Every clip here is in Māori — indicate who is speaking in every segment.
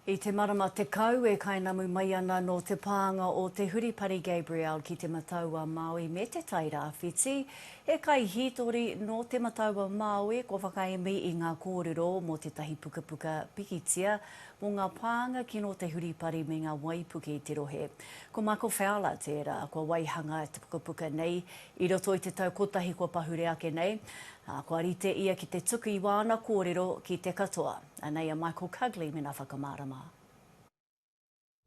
Speaker 1: I te marama tekau e kainamu mai ana nō te pānga o Te Huripari Gabriel ki Te Matau-a-Māui me Te Tai Rāwhiti, he kaihītori nō Te Matau-a-Māui kua whakaemi i ngā kōrero mō tētahi pukapuka pikitia mō ngā pānga kino te huripari me ngā waipuke i te rohe. Ko Michael Fowler tērā kua waihanga te pukapuka nei i roto i te tau kotahi kua pahure ake nei, ā, kua rite ia ki te tuku i wāna kōrero ki te katoa. Anei a Michael Cugley mena whakamārama.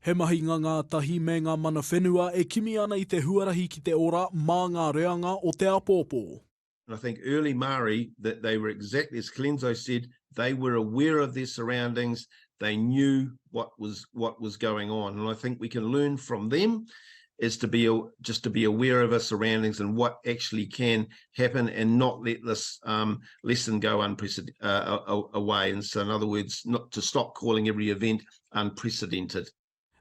Speaker 2: He mahinga ngātahi me ngā mana whenua e kimi ana i te huarahi ki te ora mā ngā reanga o te apōpō. And I think early
Speaker 3: Māori that they were exactly as Colenso said, they were aware of their surroundings, they knew what was what was going on and I think we can learn from them is to be just to be aware of our surroundings and what actually can happen and not let this um, lesson go unprecedented uh, uh, away. And so, in other words, not to stop calling every event unprecedented.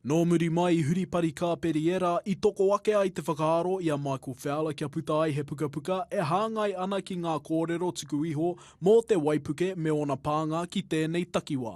Speaker 3: Nō muri
Speaker 2: mai i huripari kāperi era, i toko ake ai te whakaaro i a Michael Fowler kia puta ai he pukapuka e hāngai ana ki ngā kōrero tuku iho mō te waipuke me ōna pānga ki tēnei takiwā.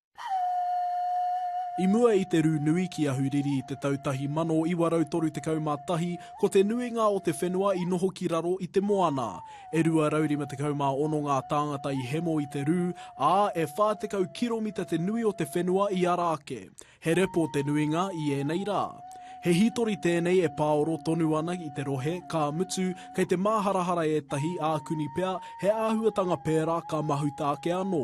Speaker 2: I mua i te rū nui ki Ahuriri i te tau 1931, ko te nuinga o te whenua i noho ki raro i te moana. E 256 ngā tāngata i hemo i te rū, ā, e 40 kiromita te nui o te whenua i ara ake. He repo te nuinga i ēnei rā. He hītori tēnei e pāoro tonu ana i te rohe, ka mutu, kei te māharahara ētahi, ākuni pea, he āhuatanga pērā ka mahuta ake anō.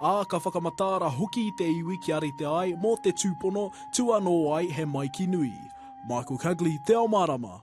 Speaker 2: ā, ka whakamataara hoki te iwi kia rite ai mō te tūpono, tua nō ai he maiki nui. Michael Cugley, Te Ao Mārama.